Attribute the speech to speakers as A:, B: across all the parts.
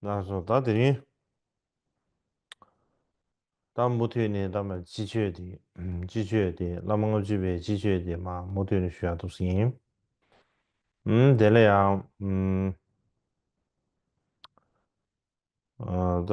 A: ནང་སོ་ད་དེ་རིང། ད་མུ་མཐུད་ནས་ད་མ་སྤྱི་ཆོས་དེ། སྤྱི་ཆོས་དེ་བླ་མ་ལྔ་བཅུ་པའི་སྤྱི་ཆོས་དེ་མ་མུ་མཐུད་ནས་ཞུ་ཡག་ཐུབ་ས་ཡིན། དེ་ལ་ཡང། ད།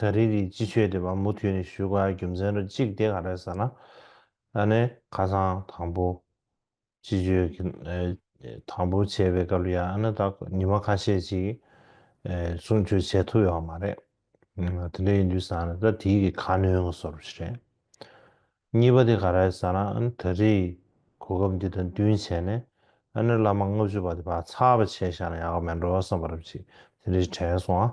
A: ད་རེས་ཀྱི་སྤྱི་ཆོས་དེ་བ་མུ་མཐུད་ནས་ཞུ་དགའ་རྒྱུ་མཚན་རོ་གཅིག་དེ་ག་རེད་ཟེར་ན། ད་ནས་ཁ་སང་དང་པོ་སྤྱི་ཆོས་ཀྱི་དང་པོ་བྱས་པའི་སྐབས་ལ་ཡང་ཨ་ན་ད་ཉི་མ་ཁ་ཤས་ཅིག་གསུང་ཆོས་བྱས་ཐུབ་ཡོད་པ་མ་རེད། དེ་འདྲ་ཡིན་དུས་ཟེར་ན་ད་དེའི་གི་ཁ་སྣོན་གི་སོར་བཞི་རེད། གཉིས་པ་དེ་ག་རེད་ཟེར་ན་ཨ་ན་ད་རེས་གོ་སྐབས་འདི་དང་བསྟུན་བྱས་ནས་ཨ་ན་བླ་མ་ལྔ་བཅུ་པ་དེ་བ་ཚགས་པ་བྱས་ཤག་ན་ཡག་གི་མེད་འགྲོ་བསམ་པ་རབ་ཅིག་དེ་འདྲའི་དྲན་སོང་ཨ།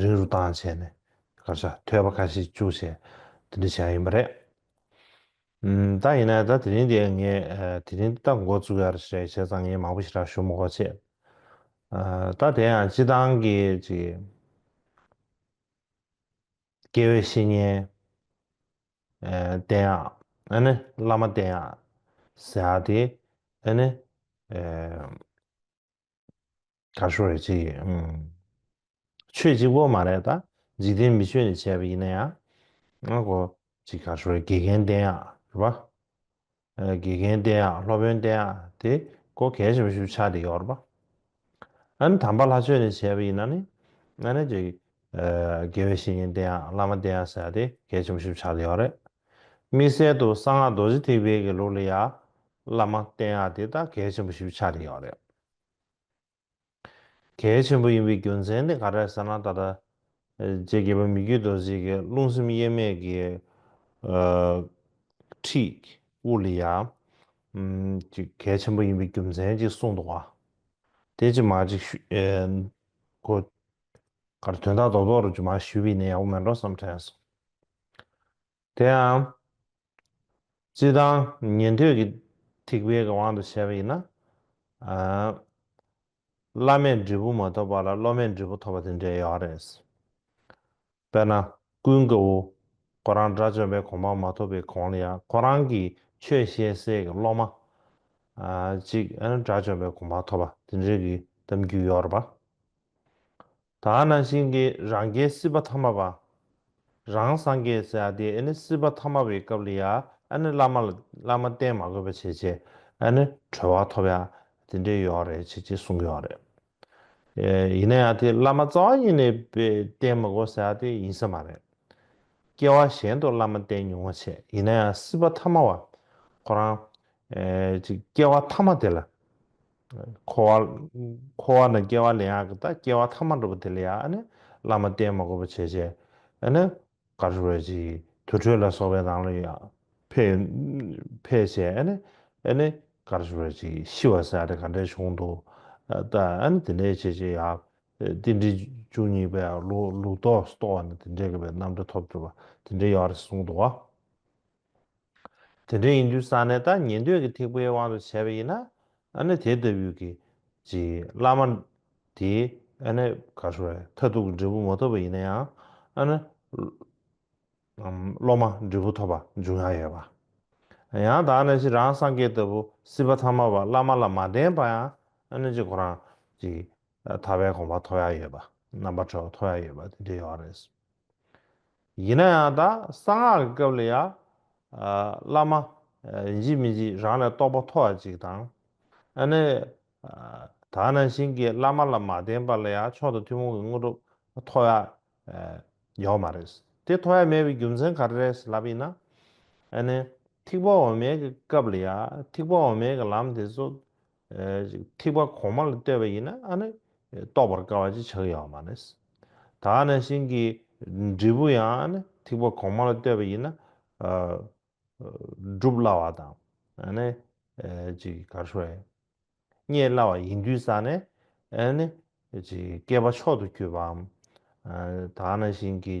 A: རིང་རུ་བཏང་བྱས་ནས་སྐར་ཆ་ཐོས་པ་ཁ་ཤས་བཅུག་བྱས་དེ་འདྲ་བྱས་ཡིན་པ་རེད། ད་ཡིན་ན་ད་དེ་རིང་དེ་ངས་དེ་རིང་ད་འགོ་བཙུགས་ཡར་ཞེས་བྱས་ཙང་ངས་མང་པོ་ཞིག་རག་ཞུ་མི་གོ་ཆེད། ད་དེ་ཡང་སྤྱི་བཏང་གི་ཅིག་སྐྱེ་བའི་བཤེས་གཉེན་བསྟེན་ཡག་ཨ་ནི་བླ་མ་བསྟེན་ཡག་ཟེར་ཡག་དེ་ཨ་ནི། ད་ཤོ་རེད་ཅེས་ཡོད། ཆོས་གཅིག་པོ་མ་རེད་ད། འཇིག་རྟེན་མི་ཆོས་ནས་བྱས་པ་ཡིན་ན་ཡང། ང་གོ། ཅིག་ད་ཤོ་རེད་དགེ་རྒན་བསྟན་ཡག་རེད་པ། དགེ་རྒན་བསྟན་ཡག་སློབ་དཔོན་བསྟན་ཡག་དེ་གོ་གལ་ཆེན་པོ་ཞུ་ཆ་དེ་ཡོད་རེད་པ། ཨ་ནི་དམ་པ་ལྷ་ཆོས་ནས་བྱས་པ་ཡིན་ན་ནི། ཨ་ནི་ཅིག། དགེ་བའི་བཤེས་གཉེན་བསྟན་ཡག་བླ་མ་བསྟན་ཡག་ཟེར་ཡག་དེ་གལ་ཆེན་པོ་ཞུ་ཆ་དེ་ཡོད་རེད། དམིགས་བསལ་དུ་གསང་སྔགས་རྡོ་རྗེ་ཐེག་དཔལ་གྱི་ལུགས་ལ་ཡག་བླ་མ་བསྟན་ཡག་དེ་ད་གལ་ཆེན་པོ་ཞུ་ཆ་དེ་ཡོད་རེད། གལ་ཆེན་པོ་ཡིན་པའི་རྒྱུ་མཚན་ནི་ག་རེ་ཟེར་ན་ད་ལྟ་རྗེ་དགེ་བའི་མི་རྒྱུད་དུ་གཟིགས་ཀྱི་རླུང་སེམས་དབྱེར་མེད་ཀྱི་ཁྲིད་དབུ་ལི་ཡ་གཅིག་གལ་ཆེན་པོ་ཡིན་པའི་རྒྱུ་མཚན་གཅིག་གསུངས་འདུག་བ་དེ་ཅི་མ་ཅིག་ཤོས་ཁོ་གར་དོན་དག་རྡོག་རྡོག་རུ་ཅི་མ་ཞུས་པས་ནི་ཡག་པོ་མེད་འགྲོ་བསམ་དྲན་སོང། དེའང། སྤྱི་དང། ཉན་ཐོས་ཀྱི་ཐེག་པའི་དབང་དུ་བྱས་པ་ཡིན་ན། བླ་མས་འབྲས་བུ་མ་ཐོབ་པ་ལ་སློབ་མས་འབྲས་བུ་ཐོབ་པ་དེ་འདྲའི་ཡག་རེད། དཔེར་ན། ཀུན་དགའ་བོ། ཁོ་རང་དགྲ་བཅོམ་པའི་གོང་འཕང་མ་ཐོབ་པའི་གོང་ལ་ཡང་ཁོ་རང་གིས་ཆོས་བཤད་སའི་སློབ་མ། ཅིག་དགྲ་བཅོམ་པའི་གོང་འཕང་ཐོབ་པ་དེ་འདྲའི་གི་གཏམ་རྒྱུད་ཡོད་རེད་པ། ད་ནང་བཞིན་གྱི་རང་རྒྱལ་སྲིད་པ་མཐའ་མ་པ། རང་སངས་རྒྱས་ཟེར་ཡ་དེ་ཨེ་ནི་སྲིད་པ་མཐའ་མ་པའི་སྐབས་ལ་ཡ་ཨེ་ནི་བླ་མ་ལ་བླ་མ་བསྟེན་མ་དགོས་པ་བྱས་བྱས་ཨེ་ནི་གྲོལ་བ་ཐོབ་ཡ་དེ་འདྲས་ཡོད་རེད་བྱས་བྱས་གསུངས་ཡོད་རེད། ཡིན་ན་ཡ་དེ་བླ་མ་རྩ་བ་ཉིད་ནས་བསྟེན་མི་དགོས་ཟེར་ཡ་དེ་ཡིན་ས་མ་རེད། སྐྱེ་བ་གཞན་དུ་བླ་མ་བསྟེན་མྱོང་བ་བྱས་ཡིན་ན་ཡ་སྲིད་པ་མཐའ་མ་བ་ཁོ་རང། སྐྱེ་བ་མཐའ་མ་དེ་ལ། འཁོར་བ། འཁོར་བ་ན་སྐྱེ་བ་ལེན་ཡག་གི་དང་སྐྱེ་བ་ཐ་མ་འགྲོ་བ་དེ་ལས་ཡག་ཨ་ནི་བླ་མ་བསྟེན་མ་དགོས་པ་བྱས་བྱས་ཨ་ནི་གར་ཞུ་བས་ཅི་དུར་ཁྲོད་ལ་སོགས་པའི་ནང་ལ་ཕེ་ཕེ་བྱས་ཨ་ནི་ཨ་ནི་གར་ཞུ་བས་ཅི་ཤི་བ་སྲིད་ཨ་ནི་ག་འདྲའི་གཞུང་དུ་ལྟ་ཨ་ནི་དེ་འདྲའི་བྱས་བྱས་ཡག་རྟེན་འབྲེལ་བཅུ་གཉིས་པའི་ལུགས་ལུགས་ལྡོག་ཏོ་ཨ་ནི་དེ་འདྲའི་གི་བའི་རྣམ་འདྲ་ཐོབ་གྱུར་པ་དེ་འདྲའི་ཡོད་རེད་གསུངས་འདུག་བ། དེ་འདྲ་ཡིན་དུས་ས་གནས་དང་ཉན་ཐོས་ཀྱི་ཐེག་པའི་དབང་དུ་བྱས་པ་ཡིན་ན་ཨ་ནི་དེ་ལྟ་བུའི་གི་ཅིག་བླ་མ་དེས་ཨ་ནི་གར་ཤོར་བས་མཐར་ཐུག་གི་འབྲས་བུ་མ་ཐོབ་པ་ཡིན་ན་ཡང་ཨ་ནི་སློབ་མ་འབྲས་བུ་ཐོབ་པ་འབྱུང་ཡག་ཡོད་པ། ཡང་དག་ན་ཤི་རང་སངས་རྒྱས་ལྟ་བུ་སྲིད་པ་ཐ་མ་བ་བླ་མ་ལ་མ་བསྟེན་པ་ཡང་ཨ་ནི་ཅིག་ཁོ་རང་ཅིག་ཐར་པའི་གོམ་པ་ཐོག་ཡག་ཡོད་པ་རྣམ་པ་གྲོལ་བ་ཐོག་ཡག་ཡོད་པ་དེ་འདྲ་ཡོད་རེད། ཡིན་ན་ཡང་དག་གསང་སྔགས་ཀྱི་སྐབས་ལ་ཡ། བླ་མ། འཇིགས་མི་འཇིགས་རང་ལས་རྟོགས་པ་མཐོ་བ་ཅིག་དང། ཨ་ནི། དག་སྣང་བཞིན་གྱི་བླ་མ་ལ་མ་བསྟེན་པ་ལ་ཡ་མཆོག་ཏུ་ཐུན་མོང་གི་དངོས་གྲུབ་མཐོ་བ། ཡོད་མ་རེད། དེ་མཐོ་བ་མེད་པའི་རྒྱུ་མཚན་ག་རེ་རེད་ལབ་ཡིན་ན། ཨ་ནི། ཐིགས་པ་འོ་མའི་གི་སྐབས་ལ་ཡ་ཐིགས་པ་འོ་མའི་གི་ལམ་དེ་ཚོ། ཐིགས་པ་གོང་མ་ལ་ལྟོས་པ་ཡིན་ན་ཨ་ནི་རྟོགས་པར་དཀའ་བ་ཅིག་ཆགས་ཡོད་བ་མ་རེད། ད་ཨ་ནེ་ཤིང་གི་འབྲས་བུ་ཡང་ཨ་ནི་ཐིགས་པ་གོང་མ་ལ་ལྟོས་པ་ཡིན་ན། སྒྲུབ་སླ་བ་དང་ཨ་ནི། རྙེད་སླ་བ་ཡིན་དུས་ས་ནི་ཨ་ནི། བསྐལ་པ་མཆོག་ཏུ་གྱུར་པའམ། ད་ཨ་ནེ་ཤིང་གི།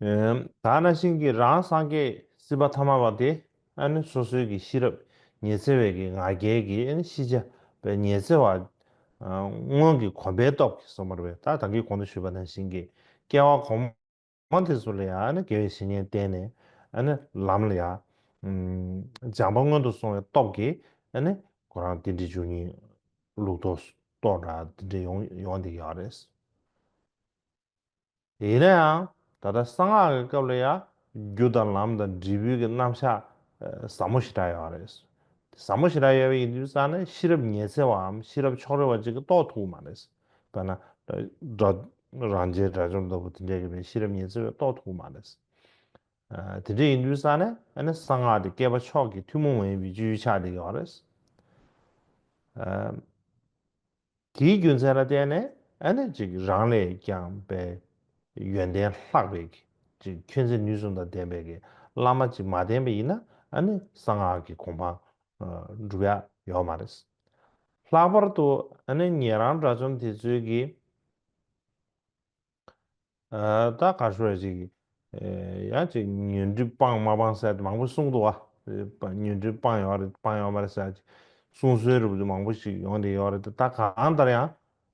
A: ད་ནང་བཞིན་གྱི་རང་སངས་རྒྱས་སྲིད་པ་ཐ་མ་བ་དེ་ནི་སོ་སོའི་གི་ཤེས་རབ་ཉི་ཚེ་བའི་གི་ང་རྒྱལ་གི་ཤེས་བྱ་བའི་ཉི་ཚེ་བ་སྔོན་གྱི་གོམས་པའི་སྟོབས་ཀྱིས་སོ་མར་བས་ད་དང་གི་གོང་དུ་ཞུས་པ་ནང་བཞིན་གྱི་སྐྱེ་བ་གོམས། ཁོང་དེ་ཚོ་ལ་ཡང་ཨ་ནི་དགེ་བའི་བཤེས་གཉེན་བསྟེན་ནས་ཨ་ནི་ལམ་ལ་ཡང། སྦྱངས་པ་སྔོན་དུ་སོང་བའི་སྟོབས་ཀྱིས་ཨ་ནི་ཁོ་རང་འདི་འདྲའི་ཆོས་ཉིད་ལུགས་ཐོག་གཏོགས་འདྲ་འདི་འདྲའི་ཡོང་ཡོང་འདི་ཡག་རེད། ཡིན་ན་ཡང་ད་ལྟ་གསང་སྔགས་ཀྱི་སྐབས་ལ་ཡང་རྒྱུ་དང་ལམ་དང་འབྲས་བུའི་གི་རྣམ་གཞག་ཟབ་མོ་ཞེ་དྲག་ཡོད་རེད། དེ་ཟབ་མོ་ཞེ་དྲག་ཡོད་པ་ཡིན་དུས་ས་ནི་ཤེས་རབ་ཉེ་ཚེ་བའམ་ཤེས་རབ་ཕྱོགས་རེ་བ་གཅིག་གིས་རྟོགས་ཐུབ་ཀྱི་མ་རེད། དཔེར་ན། རང་རྒྱལ་དགྲ་བཅོམ་ལྟ་བུ་དེ་འདྲའི་རིག་པའི་ཤེས་རབ་ཉི་ཚེ་བས་རྟོགས་ཐུབ་ཀྱི་མ་རེད། དེ་འདྲ་ཡིན་དུས་ས་ནས་གསང་སྔགས་དེ་བསྐལ་པ་མཆོག་གི་ཐུན་མོང་མ་ཡིན་པའི་སྤྱོད་ཡུལ་ཆགས་བསྡད་ཀྱི་བ་རེད། དེའི་རྒྱུ་མཚན་ལ་བརྟེན་ནས་རང་ལས་ཀྱང་པའི་ཡོན་ཏན་ལྷག་པའི་ཁྱོད་ཚེ་ནུས་གསུམ་དང་ལྡན་པའི་བླ་མ་ཅིག་མ་བསྟེན་པ་ཡིན་ན་གསང་སྔགས་ཀྱི་གོ་འཕང་འགྲུབ་ཡ་ཡོད་མ་རེད། ལྷག་པར་དུ་ངེད་རང་དྲ་བཅོམ་དེ་ཚོའི་གི་ད་ག་ཤོད་ཅིག་ཡང་ཅིག་ཉོན་སྒྲིབ་སྤངས་མ་སྤངས་གསལ་མང་པོ་གསུང་འདུག་བ་ཉོན་སྒྲིབ་སྤངས་ཡོད་རེད་སྤངས་ཡོད་མ་རེད་གསལ་ཅིག་གསུང་སྲོལ་རུབ་རུབ་མང་པོ་ཞིག་ཡོང་དེ་ཡོད་རེད་ད་གང་ལྟར་ཡང་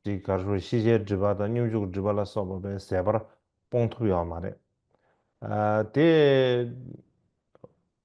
A: ཅིག་ག་ཤོད་ཤེས་བྱའི་སྒྲིབ་པ་དང་སྙོམས་འཇུག་སྒྲིབ་པ་ལ་སོགས་པ་པའི་ཟད་པར་སྤོང་ཐུབ་ཡོད་མ་རེད་དེ།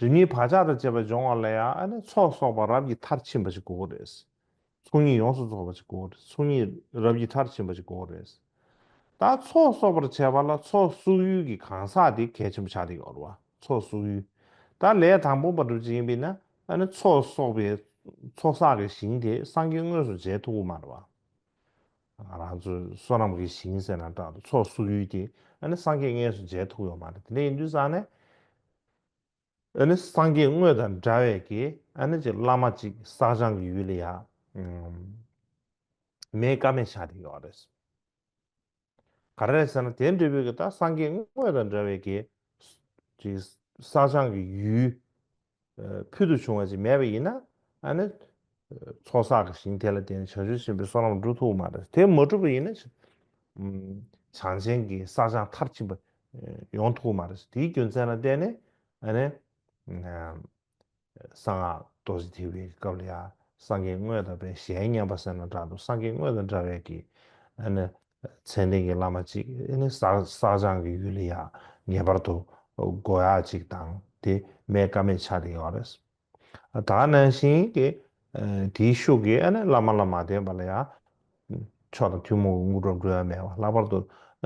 A: དོན་གཉིས་བག་ཆགས་དང་བཅས་པ་སྦྱོང་བ་ལ་ཡང་ཚོགས་གསོག་པ་རབ་ཀྱི་མཐར་ཕྱིན་པ་ཞིག་དགོས་རེད། ཚོགས་གཉིས་ཡོངས་སུ་རྫོགས་པ་ཞིག་དགོས་རེད་ཚོགས་གཉིས་རབ་ཀྱི་མཐར་ཕྱིན་པ་ཞིག་དགོས་རེད། ད་ཚོགས་གསོག་པར་བྱེད་པ་ལ་ཚོགས་གསོག་ཡུལ་གྱི་གང་ཟག་དེ་གལ་ཆེན་པོ་ཆགས་འདི་ཡོད་རེད་བ་ཚོགས་གསོག་ཡུལ་ད་ལས་དང་པོ་བ་གྲུབ་བྱེད་ཡིན་པས་ན་ཚོགས་གསོག་པའི་ཚོགས་གསག་གི་ཞིང་དེ་སངས་རྒྱས་དངོས་སུ་མཇལ་ཐུག་གི་མ་རེད་བ། ང་རང་ཚོའི་བསོད་ནམས་ཀྱི་ཞིང་ཟེར་ན་འདྲ་འདུག་ཚོགས་བསུ་ཡུལ་དེ་ཨ་ནི་སངས་རྒྱས་སྔས་སུ་མཇལ་ཐུབ་ཡོད་མ་རེད་དེ་ལས་ཡིན་དུས་བཟང་ནས་ཨ་ནི་སངས་རྒྱས་དངོས་དང་འདྲ་བས་ཀྱི་ཨ་ནི་ཅིག་བླ་མ་ཅིག་བསགས་སྦྱང་གི་ཡུལ་ལ་ཡག་མེད་ཀ་མེད་ཆགས་དེ་ཡོད་རེད། ག་རེ་རེད་ཟེར་ན་དེ་འབྲས་བུ་ཀྱི་ད་སངས་རྒྱས་དངོས་དང་འདྲ་བས་ཀྱི་ཅིག་བསགས་སྦྱང་གི་ཡུལ་ཕུལ་དུ་བྱུང་བ་ཅིག་མེད་པ་ཡིན་ན་ནི། ཚོགས་བསགས་ཀྱི་ཞིང་དེ་ལ་བརྟེན་ནས་བྱང་ཆུབ་སེམས་དཔའི་བསོད་ནམས་འགྲུབ་ཐུབ་བོ་མ་རེད། དེ་མ་གྲུབ་པ་ཡིན་ན། བྱང་ཆེན་གྱི་བསགས་སྦྱངས་མཐར་ཕྱིན་པ་ཡོང་ཐུབ་བོ་མ་རེད། དེའི་རྒྱུ་མཚན་ལ་བརྟེན་ནས། གསང་སྔགས་རྡོ་རྗེ་ཐེག་པའི་སྐབས་ལ་ཡང་སངས་རྒྱས་དངོས་དང་བས་གཞན་མཉམ་པ་སེམས་ལ་འདྲ་འདུག་སངས་རྒྱས་དངོས་དང་འདྲ་བས་ཀྱི། མཚན་ལྡན་གྱི་བླ་མ་གཅིག་ནི་བསགས་སྦྱང་གི་ཡུལ་ལ་ཡང་ངེས་པར་དུ་དགོས་ཡ་གཅིག་དང་དེ་མེད་ཀ་མེད་ཆགས་ཏེ་ཡོད་རེད། ད་ནང་བཞིན་གྱི་དེའི་ཤུགས་ཀྱིས་བླ་མ་ལ་མ་བསྟེན་པ་ལ་ཡང་མཆོག་དང་ཐུན་མོང་གི་དངོས་གྲུབ་འགྲོ་ཡ་མེད་པ་ལྷག་པར་དུ་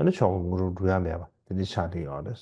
A: མཆོག་གི་དངོས་གྲུབ་འགྲོ་ཡ་མེད་པ་དེ་འདྲ་ཆགས་ཏེ་ཡོད་རེད།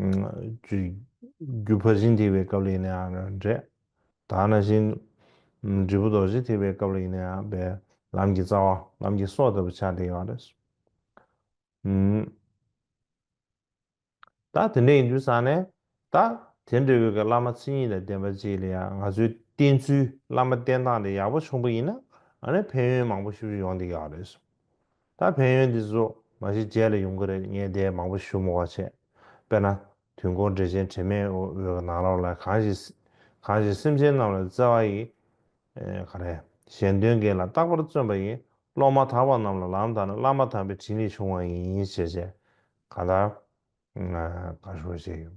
A: རྒྱུ་ཕར་ཕྱིན་ཐེག་པའི་སྐབས་ལ་ཡིན་ནའང་འབྲས། དག་ན་བཞིན། འབྲས་བུ་ལྡོག་བཞི་ཐེག་པའི་སྐབས་ལ་ཡིན་ནའང་འབའ། ལམ་གྱི་རྩ་བ་ལམ་གྱི་སྲོག་ལྟ་བུ་ཆགས་བྲལ་ཡོད། རྟགས་དེ་འདྲའི་ཡིན་དུས་སང་ནས། རྟགས་དེ་འདྲའི་དབུས་ཀྱི་བླ་མ་མཚན་ཉིད་དང་ལྡན་པ་བཅས་ལ་ཡང་ང་ཚོའི་བསྟེན་ཚུལ་བླ་མ་བསྟེན་སྟངས་དེ་ཡག་པོ་ཆུང་པོ་ཡིན་ན། ཕན་ཡོན་མང་པོ་ཞིབ་ཞིབ་ཡོང་འདི་ཡག་རེད། ད་ཕན་ཡོན་འདི་ཚོ་མ་གཞི་རྗེས་ལ་ཡོང་གི་རེད་ངས་དེ་མང་པོ་ཞུ་མོ་བ་བྱས། དཔེར་ན། དུས་འཁོར་འགྲེལ་ཆེན་དྲི་མེད་འོད་ཀྱི་ནང་ལོགས་ལ་གང་ཞིག། གང་ཞིག་སེམས་ཅན་རྣམས་ལ་བརྩེ་བ་ཡི། ག་རེ། གཞན་དོན་འགལ་ལ་རྟག་པར་བརྩོན་པ་ཡིས་བློ་མ་དག་པ་རྣམས་ལ་ལམ་དང་བླ་མ་དམ་པའི་དྲིན་ལས་བྱུང་བ་ཡིན་ཞེས་བཤད། གང་ལྟར། ག་ཞུ་བ་བྱས་ཡོད།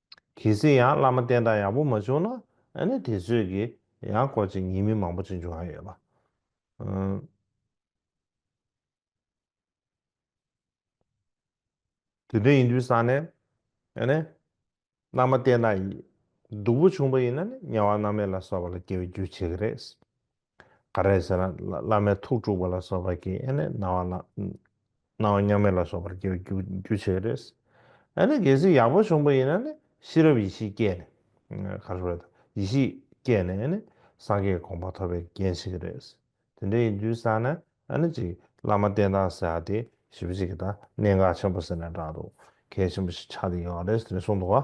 A: གལ་སྲིད་ཡང་བླ་མ་བསྟེན་སྟངས་ཡག་པོ་མ་བྱུང་ན་ཨ་ནི་དེ་ཚོད་ཀྱི་ཡང་སྐོར་ཅིག་ཉེས་མིང་མང་པོ་ཅིག་འབྱུང་ཨ་ཡོད་པ། དེ་དོན་ཡིན་དུས་སང་ནས་ཨ་ནི་བླ་མ་བསྟེན་སྟངས་ཡིག་སྡུག་པོ་བྱུང་པ་ཡིན་ན་ནི་དམྱལ་བ་ནག་མེད་ལ་སོགས་པ་ལ་སྐྱེ་བའི་རྒྱུ་བྱེད་ཀྱི་རེད། ག་རེ་ཟེར་ན་བླ་མའི་ཐུགས་དཀྲུགས་པ་ལ་སོགས་པ་གིས་ཨེ་ནས་སྣང་བ་སྣང་བ་མཉམ་མེད་ལ་སོགས་པར་སྐྱེ་བའི་རྒྱུ་རྒྱུ་བྱེད་རེད། ཨེ་ནས་གལ་སྲིད་ཡག་པོ་བྱུང་པ་ཡིན་ན་ནི་ཤེས་རབ་ཡེ་ཤེས་སྐྱེས་ནས། ག་རེ་བས། ཡེ་ཤེས་སྐྱེས་ནས་ཨེ་ནས་སངས་རྒྱས་དགོངས་པ་ཐོབ་པའི་རྐྱེན་ཞིག་རེད། དེ་འདྲ་ཡིན་དུས་ས་ནས་ཨེ་ནས་ཅིག་བླ་མ་བསྟེན་སྟངས་ཟེར་བ་དེ་ཞིབ་པོ་ཅིག་གིས་ད་གནད་འགག་ཆེན་པོ་ཟེར་ནས་བསྒྲགས་འདུག་གལ་ཆེན་པོ་ཞིག་ཆགས་ཏེ་ཡོད་རེད་ཟེར་ནས་གསུངས་འདུག་བ།